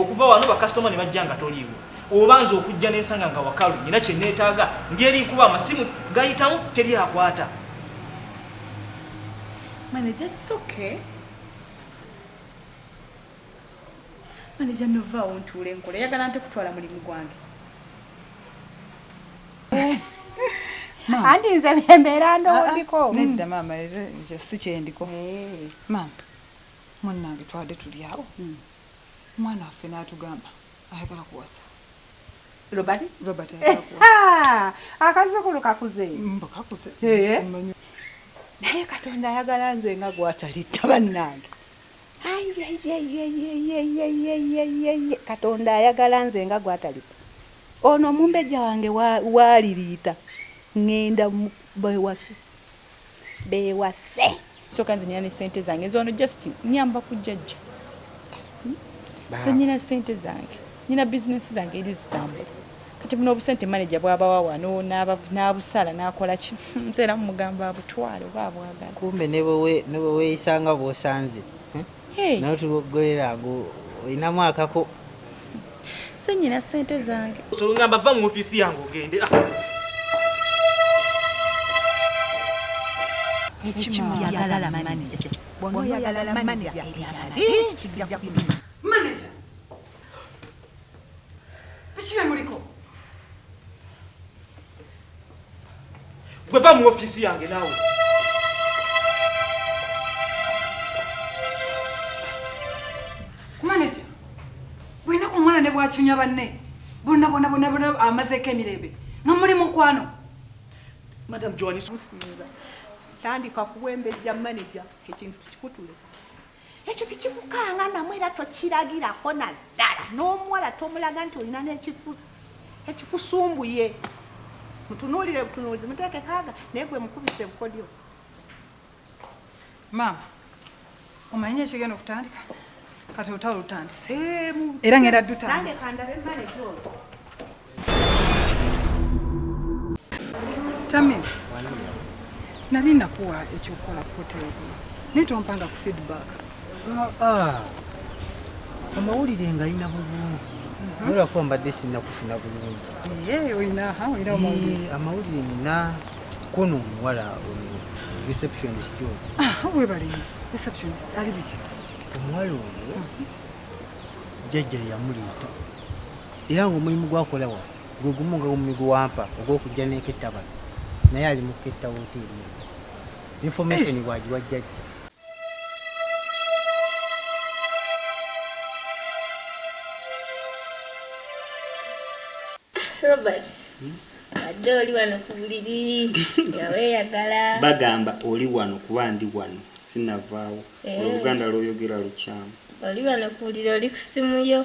okuva wano bakasitoma ne bajja nga toliiwo oba nze okujja nensanga nga wakalu nina kyeneetaaga ngeri nkuba amasimu gayitamu teri akwata Manager, it's okay. Manager no vaawo ntuule nkole oyagala nte kutwala mulimu gwange anti nze byembeera ndowondiko ah, ah. nedda mm. maama era nze si kyendiko eh. maama munnange twade tuli awo mm. mwana waffe n'atugamba ayagala kuwasa robert robert eh, ah, akazukulu kakuze mbu kakuze eh. naye katonda ayagala nze nga gwatalitta bannange katonda ayagala nze nga gwatali ono omumbejja wange waaliriita ŋŋenda bewase bewase soka nze nina ne ssente zange nze wano just nyamba ku jjajja hmm? nze nina ssente zange Nina bizinensi zange eri zitambula kati buno obusente maneja bwabawa wano n'abusala n'akola ki nze era mumugamba abutwale oba abwagala. Kumbe ne bwe weeyisa nga bw'osanze nawe tuboggolera ago olinamu akako. Nze nnyina ssente zange. So ngamba vva mu ofiisi yange ogende. Ah. Ekimu yagala maneja. Bw'onoyagala maneja, ebyala bingi kijja kumenya. biki bye muliko gwe va mu ofiisi yange naawe maneja bwinaku omwana ne bwacunya banne bonabonabonabona amazeeko emirembe nga muli mukwano madam joanis musinza tandika kuwembejja maneja ekintu tukikutule ekyo tekikukanga namu era tokiragirako naddala n'omuwala tomulaga nti olina nekikusumbuye mutunuulire butunuulizi muteeke kaaga naye gwe mukubise bukodyo maama omanyi ekigenda okutandika kati olutalo lutandise era ngenda dutandika Tami, nali nakuwa ekyokukola ku hoteli kuno naye tompanga ku feedback. Ah, ah. Amawulire ngalina bulungi mhm. nolwakuba mbadde sinakufuna bulungi. Amawulire nina kono omuwala receptionist oyo. Ah, webale receptionist ali biki? Omuwala oyo mhm. jjajja yamuleeta era ng'omulimu gw'akola wano gwe gumu nga gwe gw'ampa ogw'okujja n'eketta bano naye ali mu kuketta wooteeri eno. Yinfomesoni bw'agiwa Jjajja. Robert, wadde oli wano ku buliri nga weeyagala. Bagamba oli wano kuba ndi wano sinnavaawo. Oluganda lw'oyogera lukyamu. Oli wano ku buliri oli ku ssimu yo.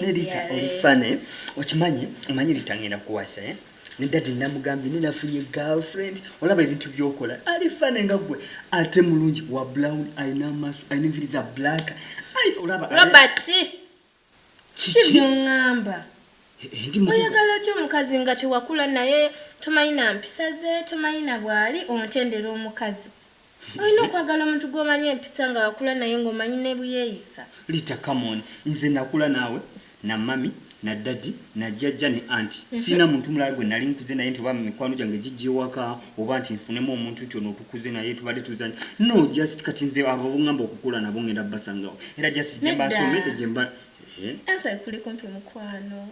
Nerita oli funny okimanyi omanyi Rita ngenda kuwasa eh ne daddy namugambye ne nafunye girlfriend olaba ebintu byokola ali funny nga gwe ate mulungi wa brown alina amaaso alina enviri za black ai olaba Robert kiki byongamba eh, oyagala ki omukazi nga tewakula naye tomanyi na mpisa ze tomanyi na bwali ontendera omukazi Olina okwagala omuntu gwomanyi empisa nga wakula naye nga omanyi nebuyeyisa. Rita come on nze nakula naawe na mummy na daddy na jjajja ne aunt sirina muntu mulala gwe nali nkuze naye nti oba mikwano gyange gijja ewaka oba nti nfunemu omuntu nti ono otukuze naye tubadde tuzanya no just kati nze abo bongamba okukula nabo ngenda basangawa era just jemba Nedda. nsomedde jemba eeh. Answer kuli kumpi mukwano.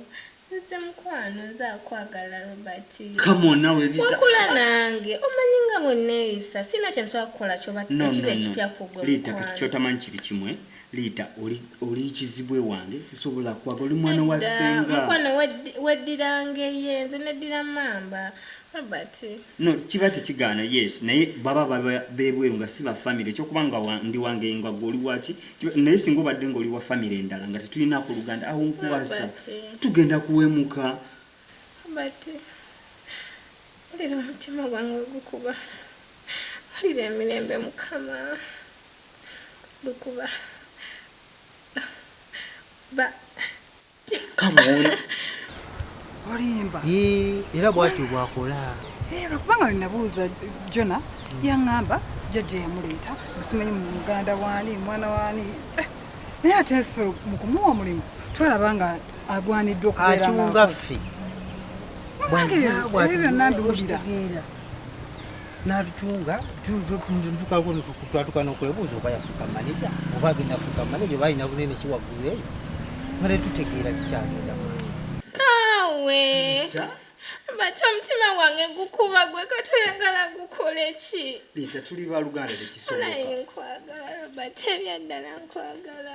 Nze mukwano nze akwagala Robert. Come on nawe Rita. Wakula nange omanyi nga bweneyisa sirina kyensobola kukola kyoba ekiba ekipya kugwe mukwano. Rita kati kyotamanyi kiri kimu Rita oli oli kizibu ewange sisobola kwagala oli mwana wa senga. Nedda mukwano weddira ngeye nze neddira mamba Robert. No kiba tekigaana yes naye baba bebweru nga si ba family ekyokuba nga ndi wangeye nga gwe oli waki naye singa obadde nga oliwa famiry endala nga tetulinako oluganda awo nkuwasa tugenda kuwemuka ulira omutima gwange ogukuba ulira emirembe mukama gukuba ba olimba era bwatyo bwakola lwekubanga nabuuza jona yaŋamba jajja yamuleeta musimanyi mu muganda waani mwana waani eh, naye ate nsife mu kumuwa omulimu twalaba nga agwaniddwa okubeeracunga ffe bwajja bwatueera n'atukyunga tutukawo twatuka n'okwebuuza oba yafuuka maneja oba agenda fuuka maneja oba alina bunene ki waggulu eyo nga tetutegeera kikyagenda naawe bati omutima wange gukuba gwe katoyagala gukole ki liza tuli baluganda tekisobolaye nkwagala robert ebyaddala nkwagala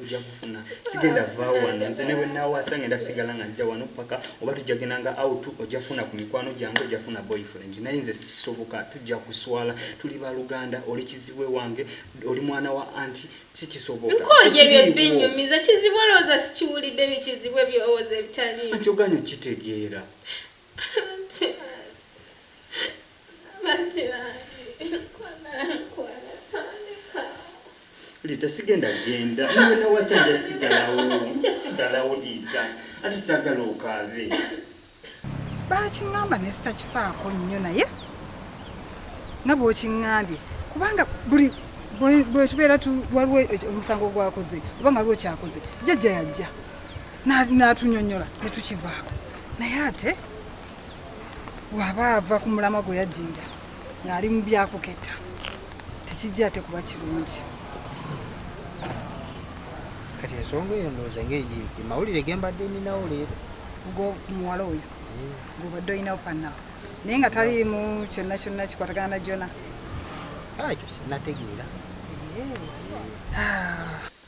ojja kufuna sigenda vaawo wano nze ne bwe naawaasa ngenda sigala nga njja wano paka oba tujja genda nga out ojja funa ku mikwano gyange ojja funa boyfriend naye nze sikisoboka tujja kuswala tuli baluganda oli kizibwe wange oli mwana wa anti sikisobokankooye bye binyumiza kizibwe olowooza sikiwulidde bikizibwe byowooza ebitalianti oganya okitegeera Lita sigenda genda niwe nawasa nja sigalawo nja sigalawo Lita ate sagala okaabe. Baakingamba naye sitakifaako nnyo naye nga bw'okingambye kubanga buli bwetubeera waliwo omusango gwakoze oba nga waliwo kyakoze jjajja yajja n'atunyonyola ne tukivaako naye ate waba ava ku mulamwa gwe yajjinja ng'ali mu byakuketta tekijja ate kuba kirungi kati ensonga eyo ndowooza ngaegimpi mawulire gembadde ninawo leero muwala oyo mm. gobadde olinawo panawo naye nga taliimu kyonna kyonna kikwatagana na jona ah, ekyo sinategeera eh. ah.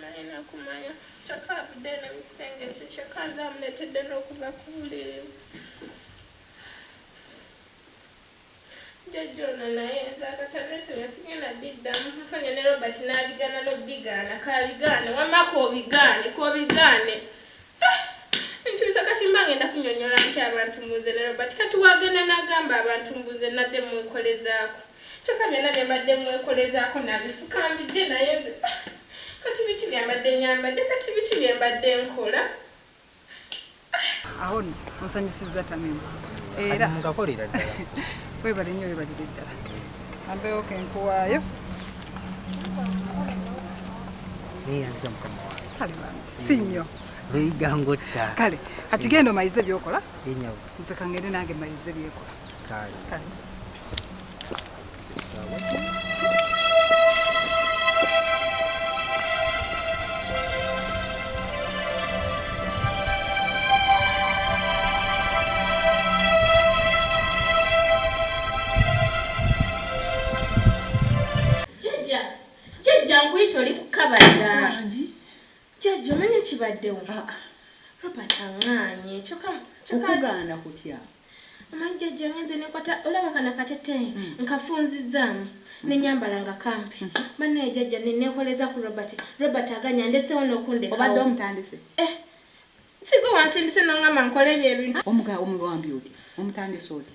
Nalina kumanya kyokka avuddeyo ne mu kisenge kye kyokka nze amuleetedde n'okuva ku buliri. Jjajja ono naye nze akata neesonyiwa sigenda biddamu. Nfunye ne Robert n'abigaana n'okubigaana. K'abigaane wamma k'obigaane k'obigaane Ebintu bisa kati mba ngenda kunyonyola ntya abantu mbu nze ne Robert kati wagenda nagamba abantu mbu nze nadde mwekolezaako kyoka byonna byembadde mwekolezaako nabifukambidde naye nze ah kati biki byembadde nyambadde kati biki byembadde nkola ah. Awo no onsanyusizza Tamim era webale nnyo webalire ddala ambewo kenkuwaayo neyanziza mukama wange si nnyo leyiga ngotta kale kati genda omayize byokola nze kangende nange mayize byekola kale Jajja nkuyita oli kukaba dda. Jajja omanyi ekibaddewo? Ah, ah. Robert aŋŋaanye kyokka okugaana kutya? Omanyi jajja ngenze nenkwata olaba kana kateteeyi hmm. nkafunzizzaamu hmm. nenyambala nga kampi hmm. banaye jajja nekoleza ku robert robert aganya ndesewo nokundekaobadde omutandise eh, sigo wansindise nongamba nkole ebyo ebintu omugawambi otya omutandise otya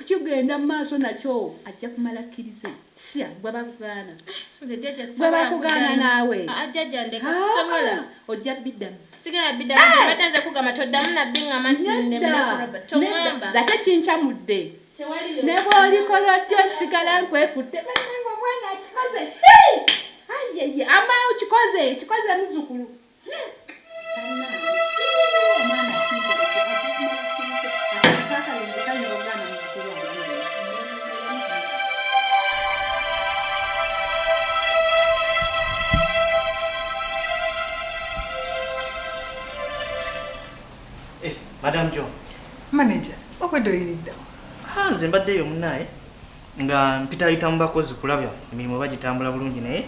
Kigenda mumaaso nakyo ajja kumala akkirize sya gwe bakugaana gwe bakugaana naawe ojja biddamu zate kincamudde ne bwolikola otya osigala nkwekutte banange omwana akikoze amaawo kikoze kikoze muzukulu Madam John. Manager, obwedde oyiriddawo. Ha, nze mbaddeyo munaaye. Nga mpitayita mu bakozi kulaba emirimu oba gitambula bulungi naye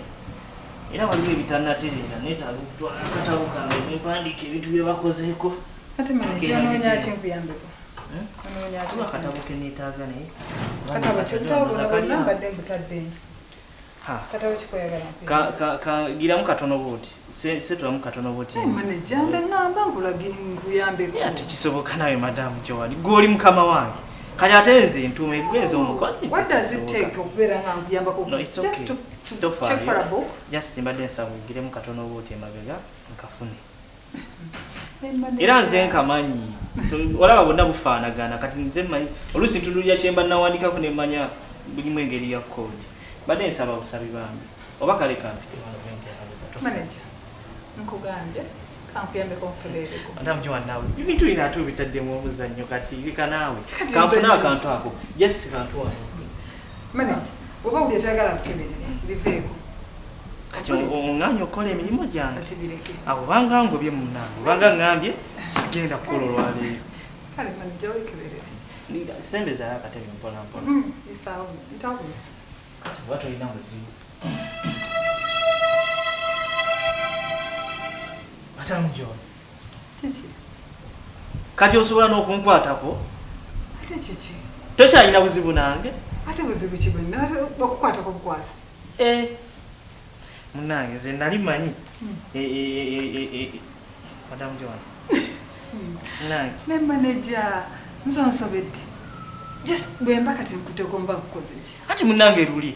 era waliwo ebitanatereera neetaaga okutwala akatabo kange ne mpandiika ebintu bye bakozeeko. Kati manya ky'onoonya ki nkuyambeko? Onoonya ki? Waliwo akatabo ke neetaaga naye. Akatabo ki? Obutabo buno bwonna mbadde mbutadde. kagiramu katono bwoti setulamu katono bwotikisoboka nawe madamu kyowali gwoli mukama wange kati ate nze ntuuma egwenza omukozi mbadde nsaba ogiremu katono bwoti emabega nkafune era nze nkamanyi olaba bonna bufaanagana kati nze manyi oluusi ntudulira kyemba nawandikako nemanya bulimu engeri ya code mbadde nsaba busabi bambi oba kale kampite nkugambye ebintu bino ate obitaddemu omuzannyo kati bikanaawe kanfuna akantu ako just kantu wano Manager bwoba owulira toyagala nkukeberere biveeko. Kati onganye okukola emirimu gyange kati bireke awo banga ngobye munange obanga ngambye sigenda kukola olwaleero kale manager wekeberere sembezayo akatebe mpolampola mm, isaawo ntawuzi kati oba tolina muzibu atamujoona kati osobola n'okunkwatako tokyalina buzibu nange eh, munange nze nali manyi hmm. eh, eh, madamu joan hmm. nange ne maneja nze onsobedde just bwemba kati nkuteko mba kukoze ki ati munange luli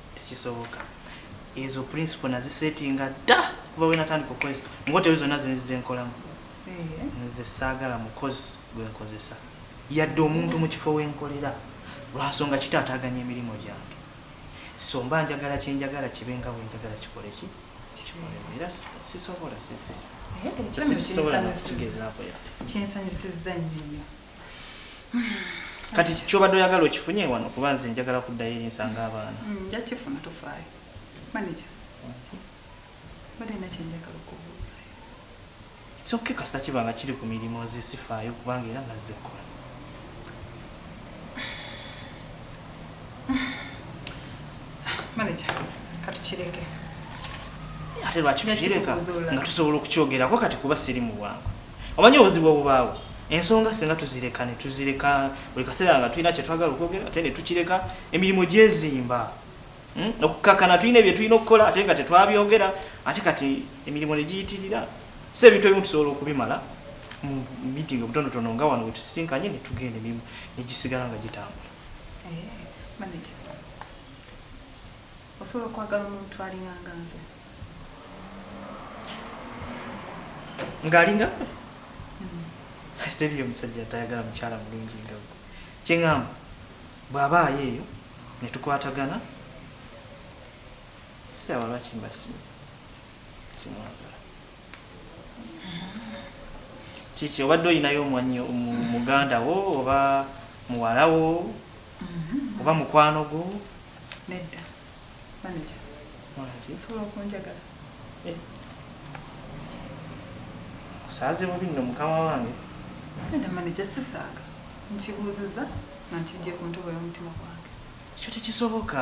tekisoboka ezo principle nazisetinga dda kuba wenatandika okukozesa mu hoteli zonna zenzize nkolamu nze saagala mukozi gwenkozesa yadde omuntu mu kifo wenkolera lwansonga kitaataaganya emirimu gyange so mba njagala kyenjagala kibe nga bwenjagala kikole ki kikolemu era sisobola sisobola nakukigezaako yadde kinsanyusizza nnyo nnyo kati kyobadde oyagala okifunye wano kuba nze njagala kuddayo eri nsanga abaana mm, njakifuna tofaayo manaja bade na kyenjagala okubuuzayo kyokke kasita kiba nga kiri ku mirimu nze sifaayo kubanga era nazze kukola manaja katukireke ate lwaki tukireka nga tusobola okukyogerako kati kuba siri mu bwangu Omanyi obuzibu obubaawo? Ensonga singa tuzireka ne tuzireka buli kaseera nga tulina kye twagala okwogera ate ne tukireka, emirimu gyezimba. Okukkakkana tulina bye tulina okukola ate nga tetwabyogera ate kati emirimu ne giyitirira. So ebintu ebimu tusobola okubimala mu miitingi obutonotono nga wano we tusisinkanye ne tugenda emirimu ne gisigala nga gitambula. Eeh, maneja. Osobola okwagala omuntu alinga nga nze? Nga alinga gwe? Hmm. Teriyo omusajja atayagala mukyala mulungi nga gwe. Kye ŋŋamba bw'abaayo eyo ne tukwatagana siraba lwaki mba simwagala. kiki obadde olinayo omwanyi muganda wo oba muwala wo mm-hmm. oba mukwano gwo nedda maneja osobola okunjagala eh. osaaze bubi nno mukama wange nedda maneja sisaaga nkibuuziza nga nkijje ku ntobo y'omutima gwange ekyo tekisoboka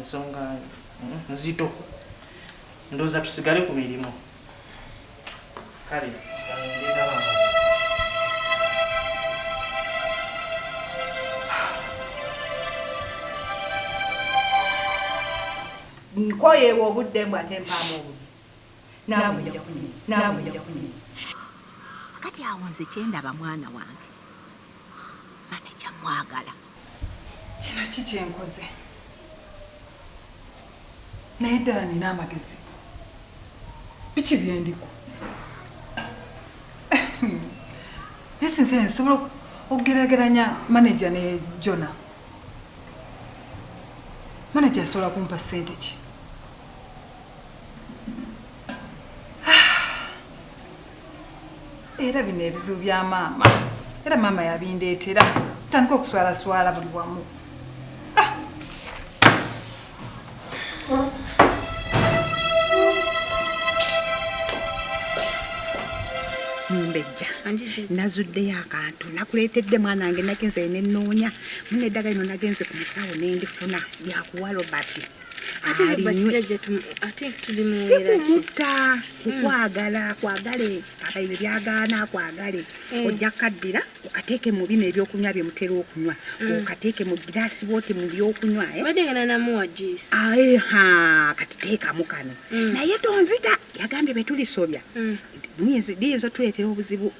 Nsonga nzito. Ndowooza tusigale ku mirimu. Kale. Nkoye ewo obudde mbwa tempaamu obudde. Naawe ojja kunywa. Naawe ojja kunywa. Kakati awo nze kye ndaba mwana wange maneja mmwagala. Kino ki kye nkoze? Naye ddala nnina amagezi? Biki bye ndiko? Naye sinze nze nsobola okugeraageranya maneja ne Jona? Maneja asobola kumpa ssente ki? era bino ebizibu bya maama era maama yabindeetera tandika okuswalaswala buli wamu ah! mumbejja nazuddeyo akantu nakuleetedde mwana wange nagenze nenoonya muneddagala ino nagenze ku musawo nendifuna lyakuwa robert ate lubati jajja ate tuli mu si kumutta kukwagala hmm. kwagale abayibe byagaana kwagale hmm. ojja kaddira okateeke mu bino ebyokunywa bye mutera okunywa hmm. okateeke mu giraasi boote mu byokunywa eh? badengana namuwa juice aeha ah, kati teekamu kano naye tonzita yagambye betulisobya liyinza otuleetera obuzibu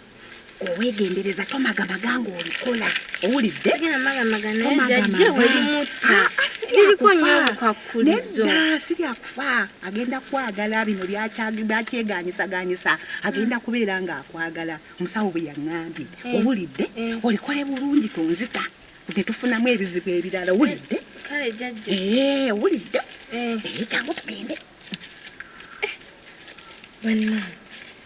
owegendereza tomagamaga ngaolikola owuliddeomagamaejajewelimutalikonyobukakulizosiryakufa agenda kwagala bino byakyeganyisaganyisa agenda kubeera nga akwagala omusawo bwe yaŋambye eh. owulidde eh. olikole bulungi tonzita tetufunamu ebizibu ebirala owulidde eh, owulidde kyangu tugende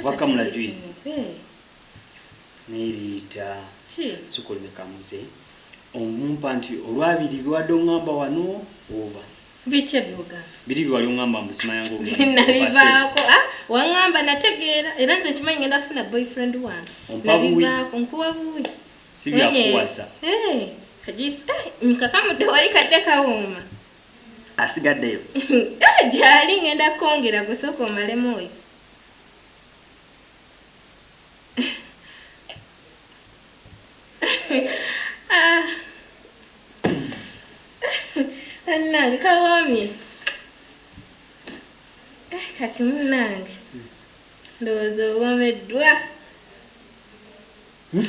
oba kamula juice neriita sukuli nekamuze omumpa nti olwabiri biwadde ongamba wano oba biki ebyogamba biri biwali ongamba mbusimayangonabivaako ah, wangamba nategeera era nze nkimanyi ngenda funa boyfriend wange nabivaako nkuwa buwi sibyakuwasa eh, kajisi eh, nkakamudde wali kadde kawuuma asigaddeyo gyali ngenda kongera gusooka omalemu oyo bannange kawoomye eh, kati munnange ndowooza owoomeddwa hmm?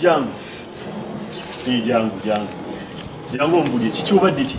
jangu eh, jangu jangu jangu ombulye kiki obadde ki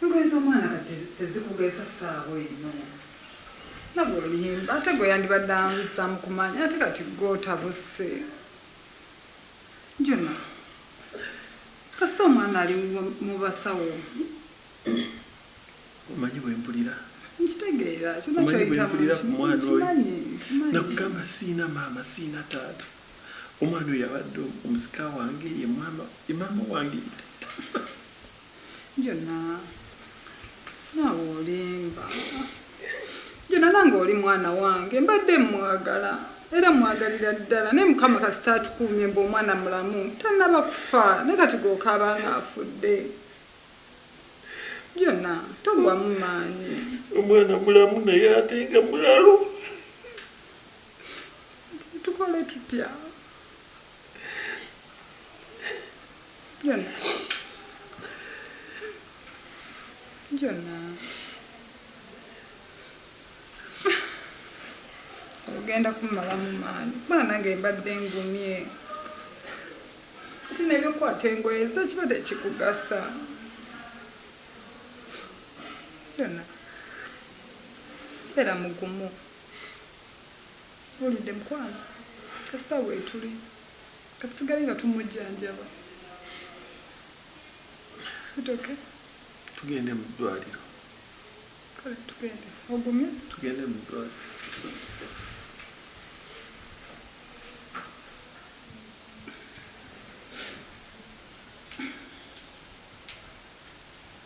Engoye zomwana kati tezikugeza saawa eno laba oluyimba ate gwe yandibadde amuzamu kumanyi ate kati gwe otabuse juna kasita omwana ali mubasawo omanyi bwempulira nkitegeera kyona kyoyitamu nkimanyi nakugamba siyina maama siyina taata omwana oyo abadde omusika wange ye maama wange Juna nawe olimba Juna nange oli mwana wange mbadde mwagala era mwagalira ddala naye mukama kasita atukuumye mbu omwana mulamu tanaba kufa naye kati gokaaba nga afudde Juna togwamu maanyi omwana mulamu naye ate nga mulalu tukole tutya. Jona. Jona. Ogenda kumalamu maanyi. Mwana nange mbadde ngumye. Kati nebyokwata engoye ze kiba tekikugasa. Jona. Era mugumu. Ulidde mukwano. Kasita wetuli. Katusigale nga tumujjanjaba. Is it okay? Tugende mu ddwaliro. Kale tugende. Ogumye? Tugende mu ddwaliro.